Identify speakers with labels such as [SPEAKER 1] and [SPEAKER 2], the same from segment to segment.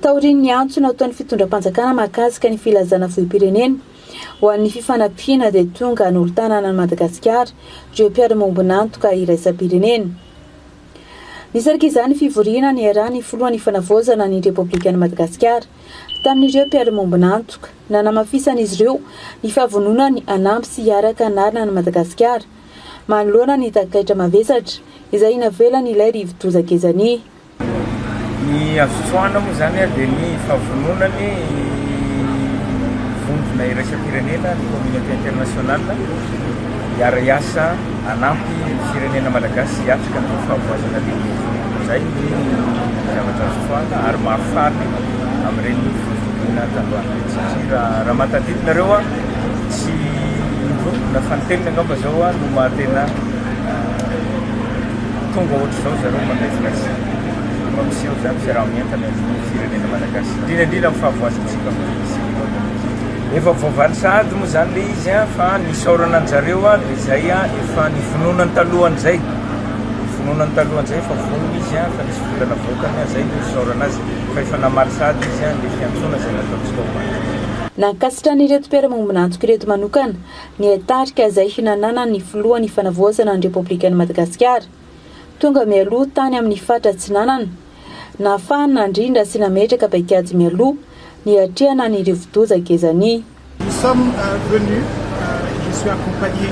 [SPEAKER 1] Taorian'ny antso nataon'ny fitondram-panjakana mahakasika ny filazana vohi-pirenena ho an'ny fifanampiana dia tonga nolo-tanana an'i Madagasikara ireo mpiara-miombon'antoka iraisam-pirenena. Nisarika izany fivoriana niarahan'ny filohan'ny Fanavaozana ny Repoblikan'i Madagasikara tamin'ireo mpiara-miombon'antoka, nanamafisan'izy ireo ny fahavononany hanampy sy hiaraka hanarina an'i Madagasikara manoloana ny takaitra mavesatra izay navelan'ilay rivodoza Gezania. Ny
[SPEAKER 2] azo tsoahina moa izany dia ny fahavononana ny vondrona iraisam-pirenena, ny communauté internationale, hiara-hiasa hanampy ny firenena malagasy hiatrika ny fahavoazana lehibe. Izay ny zavatra azo tsoahina ary maro farany amin'ireny fivoriana tandroany ireny satria raha mahatadidy nareo tsy indroa na fanintelony angamba izao no maha tena Tonga ohatr'izao zareo manaitra sy mampiseho izany fiaraha-mientana eo amin'ny firenena Malagasy, indrindra indrindra amin'ny fahavoazantsika amin'izao tontolo izao. Efa voavaly sahady moa izany ilay izy fa ny isaorana an-jareo dia izay efa nivononany talohan'izay, nivononany talohan'izay, efa vonona izy fa nisy vola navoakany, izay no isaorana azy fa efa namaly sahady izy ny fiantsoana izay nataontsika omaly. Nankasitrana
[SPEAKER 1] ireto mpiara-maombina antoko ireto manokana ny tarika izay hinananan'ny filohan' ny Fanavaozana ny Repoblikan'i Madagasikara. Tonga mialoha tany amin'ny faritra Atsinanana, nahafahany nandrindra sy nametraka paikady mialoha niatrehana ny rivodoza Gezani. Nous sommes
[SPEAKER 3] venus, je suis accompagné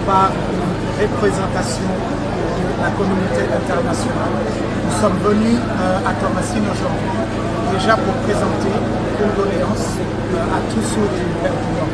[SPEAKER 3] par une representation de la communauté internationale, nous sommes venus à Toamasina aujourd'hui déjà pour présenter une doléance à tous ceux du Père du Nord.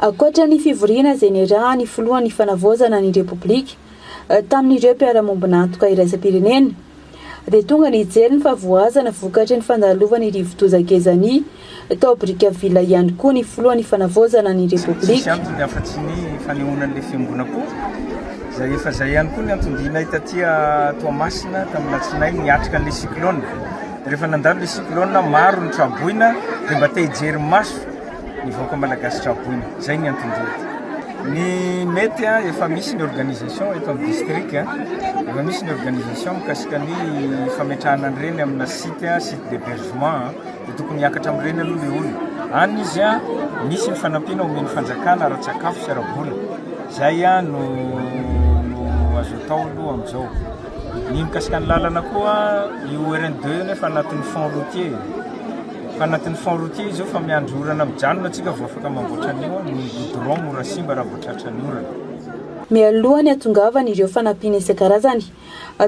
[SPEAKER 3] Ankoatra ny
[SPEAKER 1] fivoriana izay niarahan'ny filohan'ny Fanavaozana ny Repoblika tamin'ireo mpiara-miombon'antoka iraisam-pirenena, dia tonga nijery ny fahavoazana vokatry ny fandalovan'ny rivodoza Gezani tao Brickaville ihany koa ny filohan'ny Fanavaozana ny
[SPEAKER 2] Repoblika. Rehefa nandalo le cyclone maro ny traboina de mba te hijery maso ny vahoaka malagasy traboina. Zay ny anton-diany. Ny mety a, efa misy ny organisation eto amin'ny district a, efa misy ny organisation mikasika ny fametrahana an'ireny amina site a, site d'hebergement a, dia tokony hiakatra amin'ireny aloha le olona any izy a, misy ny fanampiana omen'ny fanjakana ara-tsakafo sy ara-bola, zay a no no azo atao aloha amin'izao. Ny mikasika ny lalana koa, io RN deux io anie efa anatin'ny fonds routier e. Efa anatin'ny fonds routier izy io fa miandry orana mijanona tsika vao afaka mamboatra an'io, ny goudron mora simba raha vao tratran'ny orana. Mialoha ny
[SPEAKER 1] hatongavany ireo fanampiana isan-karazany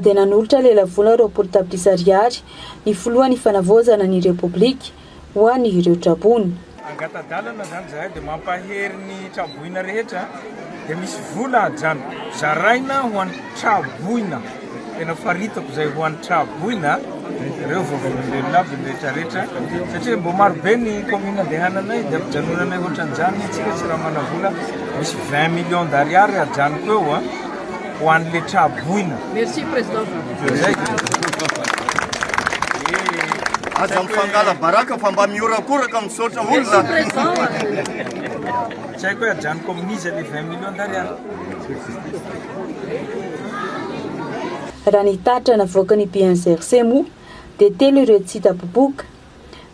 [SPEAKER 1] dia nanolotra lelavola roapolo tapitrisa ariary ny filohan'ny fanavaozana ny Repoblika, ho any ireo traboina. Angata-dalana
[SPEAKER 2] zany zahay dia mampahery ny traboina rehetra dia misy vola ajanoko zaraina ho any traboina tena faritako zay ho any traboina reo vavolombelona aby ny rehetra rehetra satria mbo maro be ny commune andehananay dia ampijanonanay ohatran'izany tsika tsy raha manavola misy vingt millions d'ariary ajanoko eo an ho an'i Letsa Boina. Merci
[SPEAKER 4] Président.
[SPEAKER 5] Aza mifangala baraka fa mba mihorakoraka misaotra olona.
[SPEAKER 2] Tsy haiko hoe ajanoko amin'iza le 20 millions d'ariary.
[SPEAKER 1] Raha ny tatra navoakan'ny BNGRC moa dia telo ireo tsy hita popoka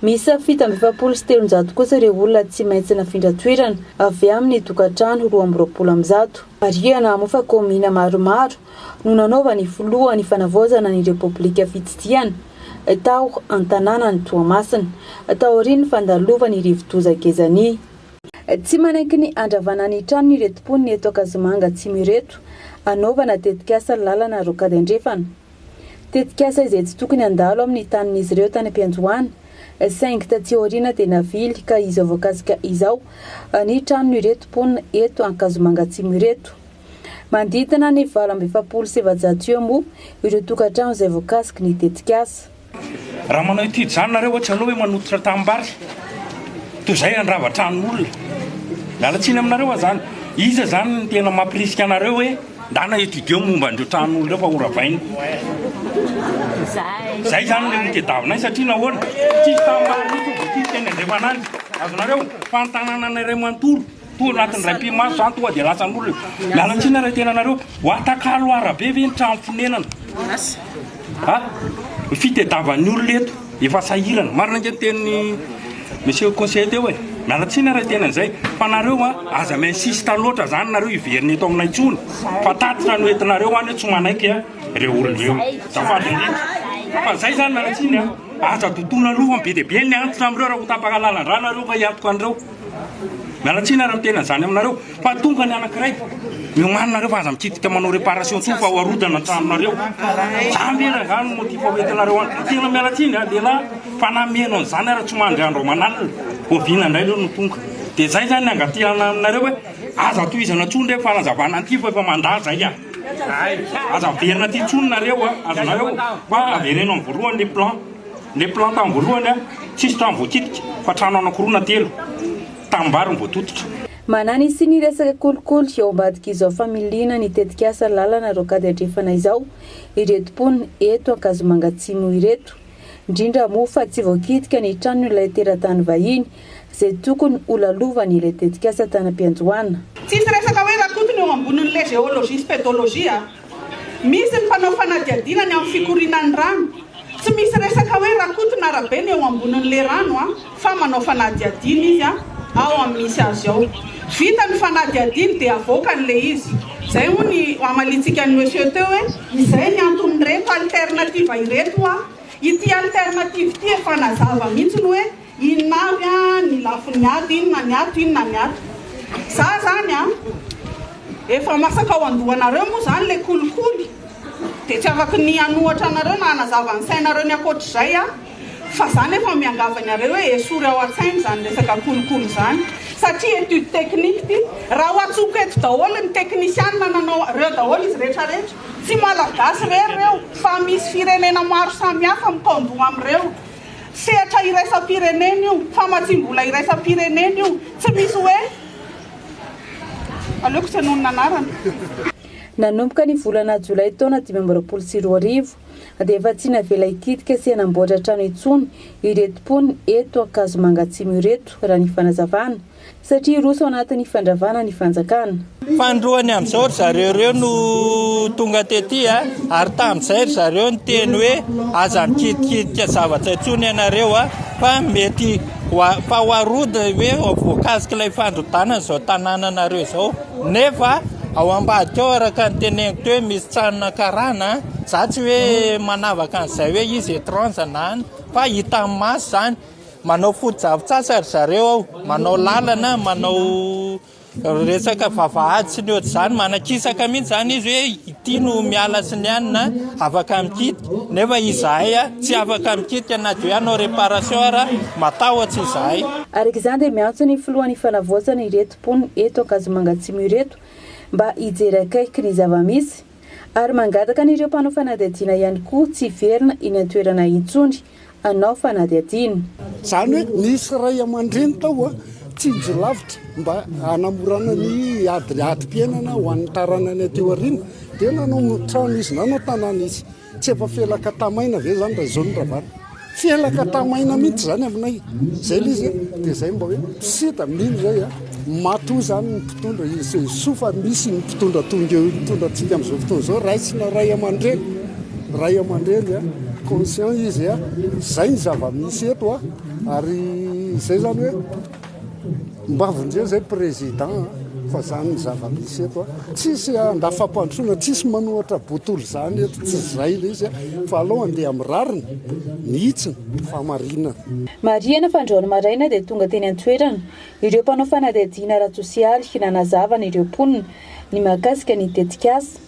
[SPEAKER 1] Miisa fito amby efapolo sy telonjato kosa ireo olona tsy maintsy nafindra toerana avy amin'ny tokantrano roa amby roapolo amby zato. Marihana moa fa kaominina maromaro no nanaovan'ny filoha ny fanavaozana ny repoblika fitsidihana tao an-tanànan'i Toamasina, taorian'ny fandalovan'ny rivodoza Gezania. Tsy manaiky ny handravana ny tranony ireto mponina eto Ankazomanga Atsimo ireto, hanaovana tetikasa lalana rokady andrefana. tetikasa izay tsy tokony handalo amin'ny tanin'izy ireo tany am-piandohana, saingy taty aoriana dia navily ka izao voakasika izao ny tranon'ireto mponina eto Ankazomanga Atsimo ireto. Manodidina ny valo amby efapolo sy efajato eo moa ireo tokantrano izay voakasiky ny tetikasa. Raha manao
[SPEAKER 4] étude izany nareo oa tsy aleo hoe manototra tanimbary toy izay handrava tranon'olona. Miala tsiny aminareo oa izany. Iza izany no tena mampirisika anareo hoe ndana étudier momba an'ireo tranon'olona ireo fa ho ravaina. Izay izany ilay notediavinay satria nahoana? Tsisy tanimbary mihitsy no voatifitra eny andrefan'andry. Azonareo? Fa ny tanananay iray manontolo. Toa anatin'ny iray mpimazo izany tonga dia latsan'olona eo. Miala tsiny ary tena anareo. Ho atakalo arabe ve ny trano fonenana? Ha? Fitediavan'ny olona eto. Efa sahirana. Marina ange ny tenin'i Monsieur le Conseiller teo e. Miala tsiny ary tena izay. Fa nareo a, aza mi-insiste loatra izany nareo hiverina eto aminay intsony. Fa tatitra no entinareo any eo tsy manaiky a, ireo olona ireo. Azafady indrindra. Fa izay izany miala tsiny a. Aza dodona loha fa be dia be ny antitra amin'ireo raha ho tapaka lalan-drà nareo ka hiantoka an'ireo. Miala tsiny ary miteny an'izany aminareo fa tonga ny anankiray miomanina nareo fa aza mikitika manao reparation tsony fa ho arodana tranonareo zany ve rangahy no motif ho entinareo any de tena miala tsiny a lehilahy fa na miheno an'izany ary tsy mandry andro aman'alina oviana indray reo no tonga de zay zany ny angatihana aminareo hoe aza tohizana tsony reo fanazavana an'ity fa efa mandà zay a aza averina aty tsony nareo a azonareo fa avereno amin'ny voalohany ny plan Ilay plan tam voalohany a, tsisy trano voakitika fa trano anakiroa na telo tam-bary no voatototra. Manani sy ny
[SPEAKER 1] resaka kolikoly ao ambadik'izao familiana ny tetikasa lalana rocade andrefana izao ireto mponina eto Ankazomanga Atsimo ireto, indrindra moa fa tsy voakitika ny tranon'ilay teratany vahiny izay tokony ho lalovany ilay tetikasa tanam-piandohana. Tsisy resaka hoe
[SPEAKER 6] Rakoto no eo ambonin'ilay géologie sy pédologie a! Misy ny mpanao fanadihadiana ny amin'ny fikorianan'ny rano. Tsy misy resaka hoe Rakoto na Rabe no eo ambonin'ilay rano a! fa manao fanadihadiana izy a! ao amin'ny misy azy ao. Vita ny fanadihadiany dia avoakany ilay izy. Izay hono ny hamaliantsika an'i Monsieur teo hoe, izay ny anton'ireto alternative ireto ho'a! Ity alternative ity efa nazava mihitsy ny hoe Inona avy ny lafin'ny ato? Inona ny ato? Inona ny ato? Za zany an! Efa masaka ao an-dohanareo moa zany le kolikoly, de tsy afaky ny hanohatra anareo na hanazava ny sainareo ny ankoatr'izay aho, fa za nefa miangavy anareo hoe esory ao an-tsaina zany resaka kolikoly zany, satria étude technique ty, raha ho antsoko eto daholo ny teknisianina nanao, reo daholo izy rehetra rehetra, tsy malagasy rery reo, fa misy firenena maro samy hafa mikaon-doha am'reo. Sehatra iraisam-pirenena io, famatsiam-bola iraisam-pirenena io. Tsy misy hoe, aleoko tsy hanohy ny anarana.
[SPEAKER 1] Nanomboka ny volana jolay taona dimy amby roapolo sy roa arivo, dia efa tsy navela hikitika sy hanamboatra trano intsony ireto mponina eto Ankazomanga Atsimo ireto, raha ny fanazavana. Satria roso ao anatin'ny fandravana ny fanjakana. Fanindroany
[SPEAKER 7] amin'izao ry zareo ireo no tonga tety a! ary tamin'izay ry zareo niteny hoe aza mikidikidiky zavatra intsony ianareo a! fa mety fa ho arody hoe voakasik'ilay fandrodanana izao tanànanareo izao nefa ao ambadika ao araka ny teneniko teo hoe misy tranona karana a! za tsy hoe manavaka an'izay hoe izy étrange na an! fa hitan'ny maso izany Manao foto-drafitr'asa ry zareo ao, manao lalana, manao resaka vavahady sy ny ohatr'izany, manakisaka mihitsy izany izy hoe ity no miala sy ny anona afaka mikitika, nefa izahay tsy afaka mikitika na dia hoe hanao réparation ara, matahotra izahay. Araka izany dia miantso
[SPEAKER 1] ny filohan'ny ifanavaozana ireto mponina eto Ankazomanga Atsimo ireto mba hijery akaiky ny zava-misy ary mangataka an'ireo mpanao fanadihadiana ihany koa tsy hiverina eny an-toerana intsony anao fanadihadiana. Izany hoe
[SPEAKER 8] nisy ray aman-dreny tao tsinjo lavitra mba hanamorana ny ady adim-piainana ho an'ny taranany aty aoriana dia nanao trano izy, nanao tanàna izy. Tsy efa felaka tamaina ve izany raha izao no ravana? Felaka tamaina mihitsy izany aminay. Izay ilay izy a! Dia izay mba hoe sida mino izay a! Matoa izany ny mpitondra, soa fa misy ny mpitondra toa ireo mitondra antsika amin'izao fotoana izao, raisina ray aman-dreny, ray aman-dreny an, conscient izy an, izay ny zava-misy eto an, ary izay izany hoe mba vonjeo izay président an, fa izany ny zava-misy eto an, tsisy andafam-pandrosoana, tsisy manohatra botolo izany eto, tsy izay ilay izy an, fa aleo handeha amin'ny rariny mihitsy ny fahamarinana. Marihina
[SPEAKER 1] fa androany maraina dia tonga teny an-toerana Ireo mpanao fanadihadiana ara-tsosialy nanazava ny ireo mponina ny mahakasika ny tetikasa,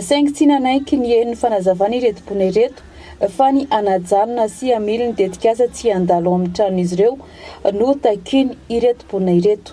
[SPEAKER 1] saingy tsy nanaiky ny henon'ny fanazavana ireto mponina ireto fa ny hanajanona sy hamily ny tetikasa tsy handalo ao amin'ny tranon'izy ireo no takiany ireto mponina ireto.